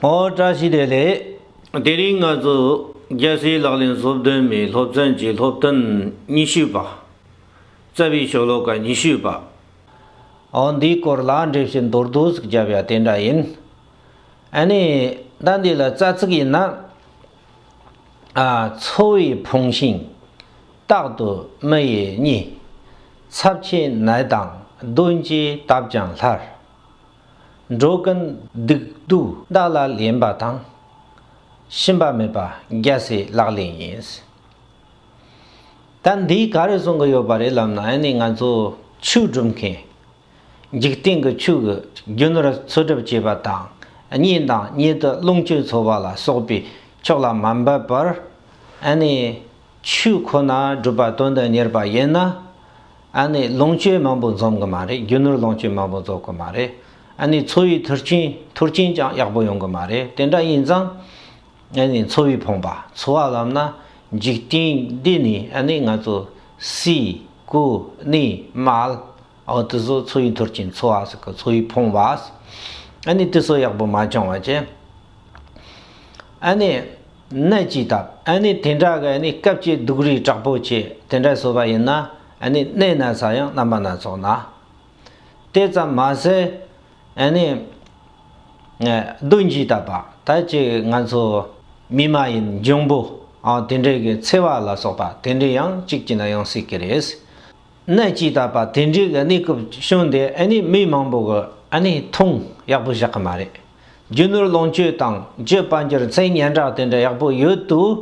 ཨོ། བཀྲ་ཤིས་བདེ་ལེགས། དེ་རིང་ང་ཚོ་རྒྱལ་སའི་ལག་ལེན་སློབ་སྟོན་མའི་སློབ་ཚན་གྱི་སློབ་སྟོན་ཉི་ཤུ་པ། རྩ་བའི་ཤོ་ལོ་ཀ་ཉི་ཤུ་པ། ཨོ་འདིའི་སྐོར་ལ་འགྲེལ་བཤད་མདོར་བསྡུས་ཟིག་བརྒྱབ་ཡ་དེ་འདྲ་ཡིན། ཨ་ནི་ཟླ་འདི་ལ་རྩ་ཚིག་ཡིན་ན། ཨ་འཚོ་བའི་ཕུང་ཤིང། རྟག་ཏུ་མི་ཡི་གཉིད། ཚབས་ཆེའི་ནད་དང་གདོན་གྱིས་དབབ་ཀྱང་སླར། འགྲོ་ཀུན་སྡིག་སྡུག་བདག་ལ་ལེན་པ་དང། ཞུམ་པ་མེད་པ་རྒྱལ་སྲས་ལག་ལེན་ཡིན། ད་འདིས་ག་རེ་གསུང་གི་ཡོད་པ་རེད་ལབ་ན་ཨེ་ནི་ང་ཚོ་ཆོས་སྒྲུབ་མཁན། འཇིག་རྟེན་གྱི་ཆོས་ཀྱི་རྒྱུ་ནོར་འཚོལ་སྒྲུབ་བྱེད་པ་དང་གཉེན་དང་གཉེན་དུ་རླུང་སྤྱོད་འཚོལ་བ་ལ་སོགས་པའི་ཕྱོགས་ལ་མ་འབད་པར། ཨེ་ནི་ཆོས་ཁོ་ན་སྒྲུབ་པ་དོན་དུ་གཉེར་བ་ཡིན་ན། ཨ་ནི་ལོངས་སྤྱོད་མང་པོ་འཛོམས་གི་མ་རེད་རྒྱུ་ནོར་ལོངས་སྤྱོད་མང་པོ་རྫོགས་གི་མ་རེད་ཨ་ནི་འཚོ་བའི་ཐུར་ཆེན་ཐུར་ཆེན་ཀྱང་ཡག་པོ་ཡོང་གི་མ་རེད་དེ་འདྲ་ཡིན་ཙང་ཨ་ནི་འཚོ་བའི་ཕོངས་པ་འཚོ་བ་ལམ་ན་འཇིག་རྟེན་འདི་ནས་ཨ་ནི་ང་ཚོ་སྲས་སྐུ་ནི་མལ་འོ་དེ་ཚོ་འཚོ་བའི་ཐུར་ཆེན་འཚོ་བ་ཟེར་གི་འཚོ་བའི་ཕོངས་པ་ཨ་ནི་དེ་ཚོ་ཡག་པོ་མ་བྱུང་བ་ཅན་ཨ་ནི། ནད་ཀྱིས་བཏབ། ཨ་ནི་དེ་འདྲ་གི་ཨ་ནི་སྐབས་ཀྱི་སྡུག་རུས་དྲག་པོ་ཆེ་དེ་འདྲ་བཟོ་བ་ཡིན་ན་ཨ་ནི་གནས་ན་ཚ་ཡང་རྣམ་པ་སྣ་ཚོགས་ན། དེ་ཙམ་མ་ཟད་ཨ་ནི། སྡུག་འཇིགས་བཏབ་པ་ད་ཅི་ང་ཚོ་མི་མ་ཡིན་འབྱུང་པོ་ཨང་དེ་འདྲས་གི་འཚེ་བ་ལ་སོགས་པ་དེ་འདྲས་ཡང་གཅིག་ཅི་ན་ཡང་སྲིད་གི་རེད། ནད་ཀྱིས་བཏབ་པ་དེ་འདྲས་གི་ཨ་ནི་སྐབས་བྱུང་དེ་ཨ་ནི་མི་མང་པོ་གི་ཨ་ནི་མཐོང་ཡག་པོ་བཞག་གི་མ་རེད། རྒྱུ་ནོར་ལོངས་སྤྱོད་དང་སྤྱོད་པ་རྒྱུ་མཚན་སྙན་གྲགས་དེ་འདྲ་ཡག་པོ་ཡོད་དུས་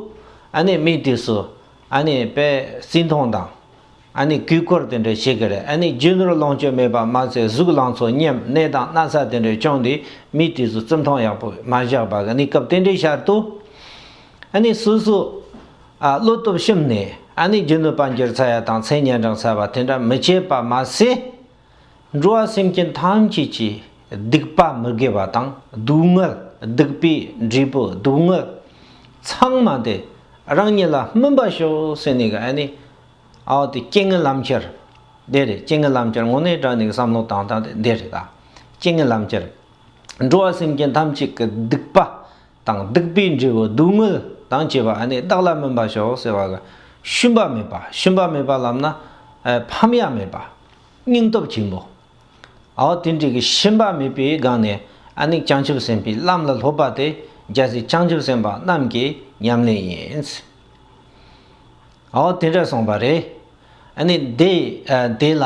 ཨ་ནེ་མིའི་དུས་སུ་ཨ་ནེ་པས་བརྩི་མཐོང་དང་ཨ་ནེ་གུས་བཀུར་དེ་འདྲ་བྱེད་གི་རེད་ཨ་ནེ་རྒྱུ་ནོར་ལོངས་སྤྱོད་མེད་པ་མ་ཚད་གཟུགས་ལང་ཚོ་སྙེམས་གནས་དང་སྣ་ཚ་དེ་འདྲ་སྐྱོང་དུས་མིའི་དུས་སུ་བརྩི་མཐོང་ཡག་པོ་མ་བཞག་པ་གི་ནི་སྐབས་དེ་འདྲའི་ཤར་དུ་ཨ་ནེ་སོ་སོ་བློ་སྟོབས་ཞུམ་ནས་ཨ་ནེ་རྒྱུ་ནོར་པ་འགྱུར་ཚ་ཡ་དང་མཚན་སྙན་གྲགས་ཚ་བ་དེ་འདྲ་མི་བྱེད་པ་མ་ཟད། འགྲོ་བ་སེམས་ཅན་ཐམས་ཅད་ཀྱི་སྡིག་པ་མི་དགེ་བ་དང་སྡུག་བསྔལ་སྡིག་པའི་འབྲས་བུ་སྡུག་བསྔལ་ཚང་མ་དེ་རང་ཉིད་ལ་སྨིན་པར་ཤོག་ཟེར་ནས་ཀྱི་ཨ་ནི་ཨའོ་དེ་སྐྱེ་ངན་ལམ་ཁྱེར་དེ་རེད་སྐྱེ་ངན་ལམ་ཁྱེར་ངོ་ནས་དྲན་ནས་ཀྱི་བསམ་བློ་བཏང་སྟངས་དེ་འདི་རེད་ད་སྐྱེ་ངན་ལམ་ཁྱེར། འགྲོ་བ་སེམས་ཅན་ཐམས་ཅད་ཀྱི་སྡིག་པ་དང་སྡིག་པའི་འབྲས་བུ་སྡུག་བསྔལ་དང་བཅས་པ་ནི་བདག་ལ་སྨིན་པར་ཤོག་ཟེར་བ། ཤུན་པ་མེད་པ་ཤུན་པ་མེད་པ་ལམ་ན་ཕམ་ཡ་མེད་པ། སྙིང་སྟོབས་ཆེན་པོ། ཨའོ་ཏིན་ཏིག་གི་ཤུན་པ་མེད་པའི་སྒང་ནས་ཨ་ནི་བྱང་ཆུབ་སེམས་དཔའི་ལམ་ལ་སློབ་པ་དེ་རྒྱལ་སྲས་བྱང་ཆུབ་སེམས་དཔའ་རྣམས་ཀྱི་ཉམས་ལེན་ཡིན། ཨའོ་དེ་འདྲ་གསུངས་པ་རེད། ཨ་ནི་དེ་དེ་ལ།